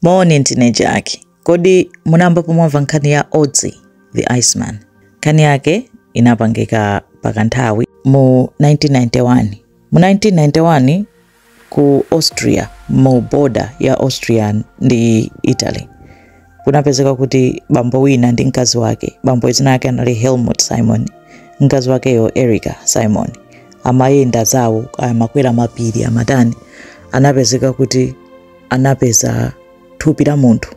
Moni ndine Jack. Kodi munayambapo mwamva nkhani ya Otzi the Iceman? Nkhani yake inapangika pakanthawi mu 1991. Mu 1991 ku Austria, mu border ya Austria ndi Italy, kunapezeka kuti bambo wina ndi mkazi wake, bambo dzina lake anali Helmut Simon, mkazi wakeyo Erika Simon, amayenda zawo amakwera mapiri amatani, anapezeka kuti anapeza thupi la munthu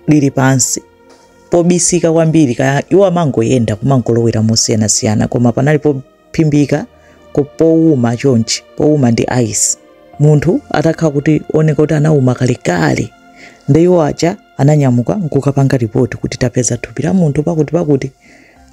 lili pansi pobisika kwambiri iwo amangoyenda kumangolowera mosiyanasiyana koma panali pophimbika ko- powuma chonchi powuma ndi ice munthu atakhala akuoneka kuti anawuma kalekale ndi iwo aja ananyamuka nkukapanga ripoti kuti tapeza thupi la munthu pakuti pakuti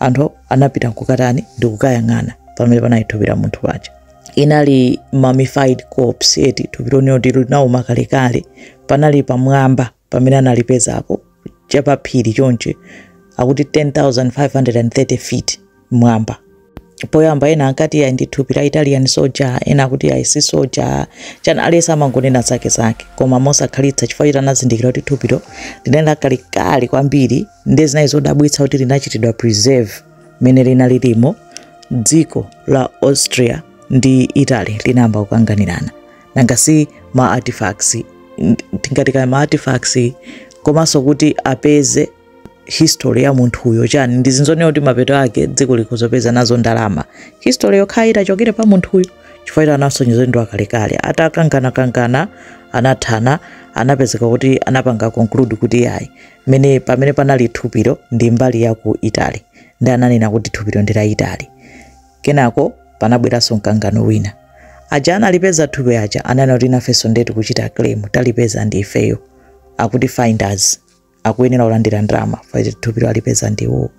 anthu anapita nkukatani ndi kukayang'ana pamene panali thupi la munthu paja inali mummified corpse eti thupilo ndi loti linauma kalekale panali pamwamba pamene analipezapo chapaphiri chonche akuti 10530 feet mwamba poyamba ena ankati ayi ndi thupi la italian soja ena akuti ayi si soja chani aliyense amangonena zake zake koma mosakhalitsa chifukwa choti anazindikira kuti thupilo linali lakalekale kwambiri ndiye zinali zodabwitsa kuti linachitidwa preserve mmene linalirimo dziko la austria ndi italy linayamba kukanganirana nanga si ma artifacts tingati kaya ma artifacts komanso kuti apeze history ya munthuyo chani ndi zinthu zonena kuti mapeto ake dziko likozapeza nazo ndalama history yokhala itachokera pa munthuyo chifukwa choti anasonyeza ndi wakalekale atakanganakangana anathana anapezeka kuti anapanga conclude kuti yayi mmene pamene panali thupilo ndi mbali ya ku Italy ndi ananena kuti thupilo ndi la Italy. Kenako panabweranso mkangano wina. Aja analipeza thupi aja ananena kuti nafenso nde tikuchita claim talipeza ndi ifeyo akuti finders akuyenera kulandira ndalama pakuti thupilo alipeza ndi iwowo.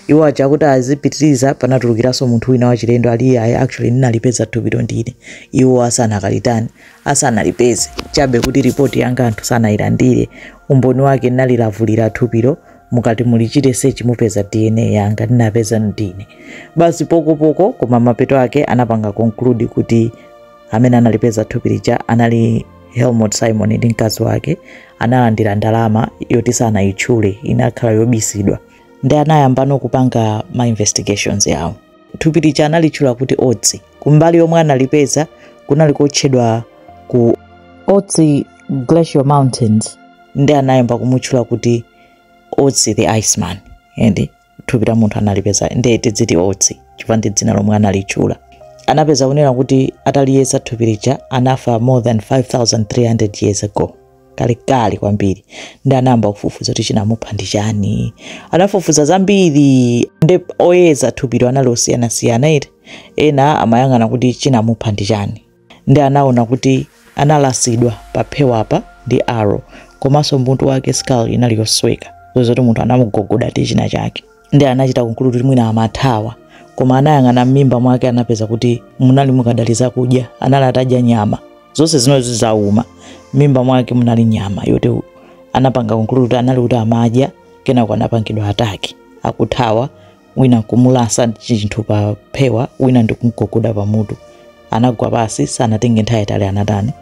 iwo aja akuti azipitiriza panatulukiranso munthu wina wachilendo ali iyayi actually ndinalipeza thupilo ndine iwo asanakalitani asanalipeze chabe kuti ripoti yanga anthu sanayilandire umboni wake ndinalilavulira thupilo mukati mulichite search mupeza dna yanga ndinapeza ndine basi pokopoko koma mapeto ake anapanga conclude kuti amene analipeza thupi lija anali helmut simon ndi mkazi wake analandira ndalama yoti sanayitchule inakhala yobisidwa ndi anayambano kupanga ma investigations yawo thupi lija analitchula kuti otsi kumbali yomwe analipeza kunali kotchedwa ku otsi glacial mountains ndi anayamba kumutchula kuti otsi the iceman and thupi la munthu analipeza ndiye timuziti otsi chifukwa ndi dzina lomwe analitchula anapeza kunena kuti ataliyesa thupi lija anafa more than 5300 years ago kalekale kwambiri ndi anayamba kufufuza kuti chinamupha ndi chani anafufuza zambiri ndi oyeza thupilo anali osiyanasiyana eti ena amayang'ana kuti chinamupha ndi chani ndi anaona kuti analasidwa paphewapa ndi arrow komanso m'mutu mwake skull inali yosweka kusonyeza zoti munthu anamugogoda ndi china chake ndi anachita conclude kuti mwina amathawa koma anayang'ana m'mimba mwake anapeza kuti munali mukadali zakudya anali atadya nyama zonse zinozi zauma m'mimba mwake munali nyama yoti anapanga conclude kuti anali kuti amadya kenako anapangidwa attack akuthawa wina nkumulasa chinthu pa phewa wina ndikumgogoda pamutu anagwa pansi sanatenge nthawi yaitali anatani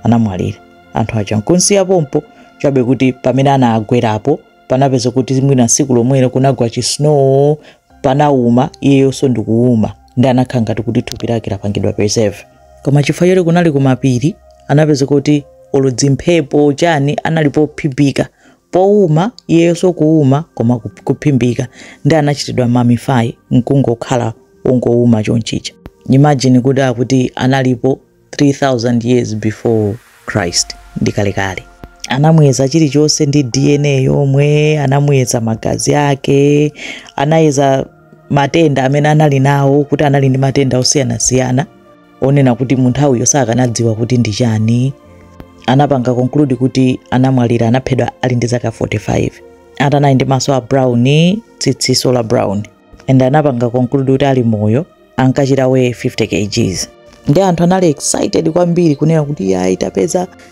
anamwalira anthu aja nkumusiya pompo chabe kuti pamene anagwerapo panapeza kuti mwina tsiku lomwelo kunagwa chisnow panauma iyeyonso ndikuuma ndi anakhala ngati kuti thupi lake lapangidwa preserve koma chifukwa choti kunali kumapiri anapeza kuti olo dzimphepo chani anali pophimbika powuma iyeyonso kuwuma koma kup- kuphimbika ndi anachitidwa mummify nkungokhala wongowuma chonchija imagine kuti akuti analipo 3000 years before christ ndi kalekale anamuyeza chilichonse ndi dna yomwe anamuyeza magazi ake anayeza matenda amene anali nawo kuti anali ndi matenda osiyanasiyana wonena kuti munthawiyo sakanadziwa kuti ndi chani anapanga conclude kuti anamwalira anaphedwa ali ndi zaka 45 ati anali ndi maso a brown tsitsinso la brown and anapanga conclude kuti ali moyo ankachita weigh 50 kgs ndi anthu anali excited kwambiri kunena kuti yayi tapeza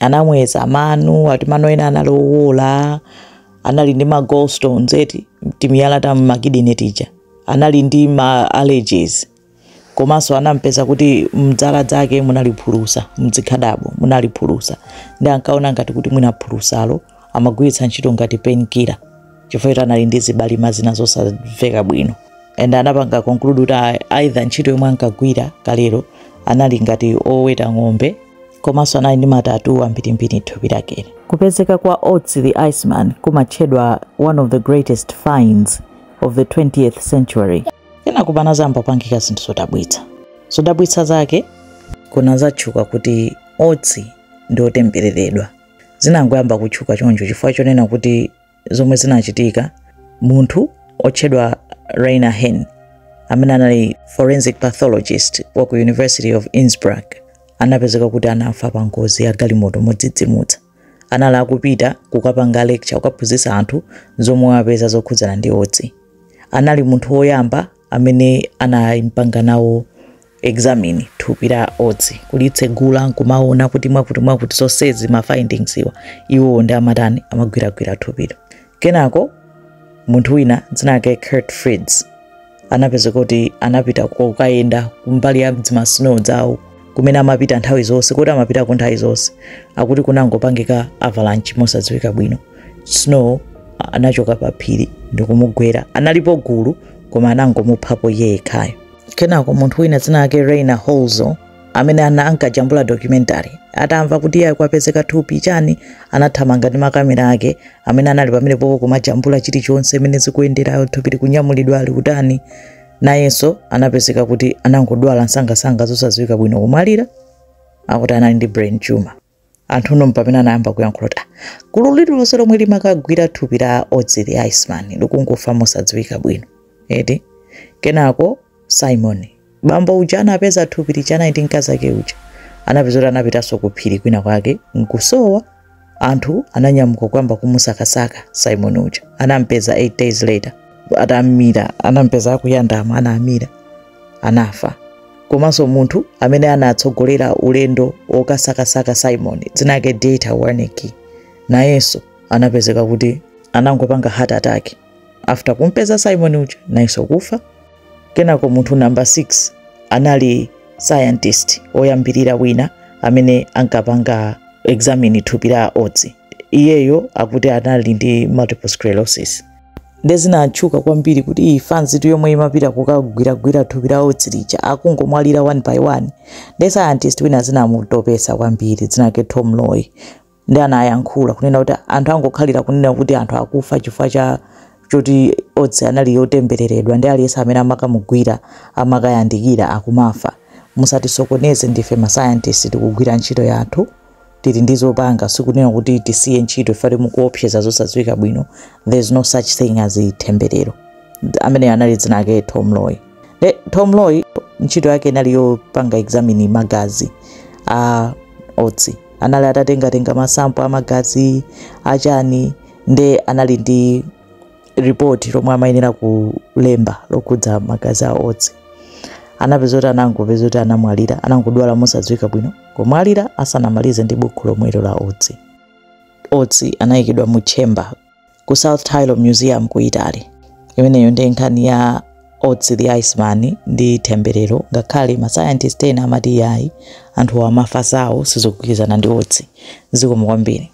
anamuyeza mano ati mano ena anali owola anali ndi ma gallstones eti timiyala ta m'makidini tija anali ndi ma allergies komanso anampeza kuti mdzala dzake munali phulusa mdzikhadabo munali phulusa ndi ankaona ngati kuti mwina phulusalo amagwiritsa ntchito ngati painkiller chifukwa eti anali ndi zibalima zina zosamveka bwino and anapanga conclude kuti a- aitha ntchito yomwe ankagwira kalero anali ngati oweta ng'ombe komanso anali ndi ma tattoo ambirimbiri thupi lakelo kupezeka kwa otsi the iceman kumatchedwa one of the greatest finds of the 20th century kenako panazayamba kupangika zinthu zodabwitsa zodabwitsa zake kunazatchuka kuti otsi ndi otembereredwa zinangoyamba kutchuka choncho chifukwa chonena kuti zomwe zinachitika munthu otchedwa Rainer Henn amene anali forensic pathologist wa ku University of Innsbruck anapezeka kuti anafa pa ngozi ya galimoto modzidzimutsa anali akupita kukapanga lecture kukaphunzitsa anthu zomwe wapeza zokhudzana ndi Ötzi anali munthu woyamba amene anaimpanga nawo examine thupi la Ötzi kulitsegula nkumaona kuti mwakuti mwakuti zonsezi ma findings iwa iwowo ndi amatani amagwiragwira thupilo kenako munthu wina dzina lake Kurt Fritz anapezeka kuti anapita kukayenda kumbali ya dzimasnow dzawo kumene amapita nthawi zonse koti amapitako nthawi zonse akuti kunangopangika avalanche mosadziwika bwino snow a- anachoka pa phiri ndikumugwera analipo gulu koma anangomuphapo iye yekhayo kenako munthu wina dzina lake Rainer Hölzl amene ana ankajambula documentary atamva kuti iyah kwapezeka thupi chani anathamanga ndi makamera ake amene anali pamenepopo kumajambula chilichonse mmene zikuyenderamo thupi likunyamulidwa ali kutani nayenso anapezeka kuti anangodwala msangamsanga zosadziwika bwino kumwalira akuti anali ndi brain tumor anthu nde mpamene anayamba kuyankhula kuti "Ah, gulu lililonse lomwe limakagwira thupi la Ötzi the iceman likungofa mosadziwika bwino eti kenako simon bambo uja anapeza thupi lija anali ndi mkazi ake uja anapezeka kuti anapitanso ku phiri kwina kwake nkusowa anthu ananyamuka kuyamba kumusakasaka simon uja anampeza 8 days later atamira anampeza akuyandama anamira anafa komanso munthu amene anatsogolera ulendo wokasakasaka Simon dzina lake Dieter Warnecke nayenso anapezeka kuti anangopanga heart attack after kumpeza Simon uja nayenso kufa. Kenako munthu namba 6 anali scientist oyambirira wina amene ankapanga examine thupi la Ötzi. Iyeyo akuti anali ndi multiple sclerosis. nde zinatchuka kwambiri kuti iih fanzitu yomwe imapita kukagwiragwira thupi la Ötzi lija akungomwalira one by one nde scientist wina zinamutopesa kwambiri dzina lake tom loy ndi anayankhula kunena kuti anthu angokhalira kunena kuti anthu akufa chifukwa cha choti Ötzi anali wotembereredwa nde aliyense amene amakamugwira amakayandikira akumafa musatisokoneze ndife mascientist tikugwira ntchito yathu tili ndi zopanga sikunena kuti tisiye ntchito ifeti mukuopseza zosadziwika bwino there is no such thing as themberero ameneyo anali dzina lake tom loy Le, tom loy ntchito yake inali yopanga examine magazi a Ötzi anali atatengatenga masampo a magazi achani nde anali ndi ripoti lomwe amayenera kulemba lokhudza magazi a otsi anapeza kuti anangopeza kuti anamwalira anangodwala mosadziwika bwino nkumwalira asanamalize ndi bukhu lomwelo la otsi otsi anayikidwa mu chamber ku south tyrol museum ku italy imeneyo ndi nkhani ya otsi the iceman ndi themberero ngakhale masayantisti ena amati yayi anthu amafa sawo sizogwirizana ndi otsi zikomo kwambiri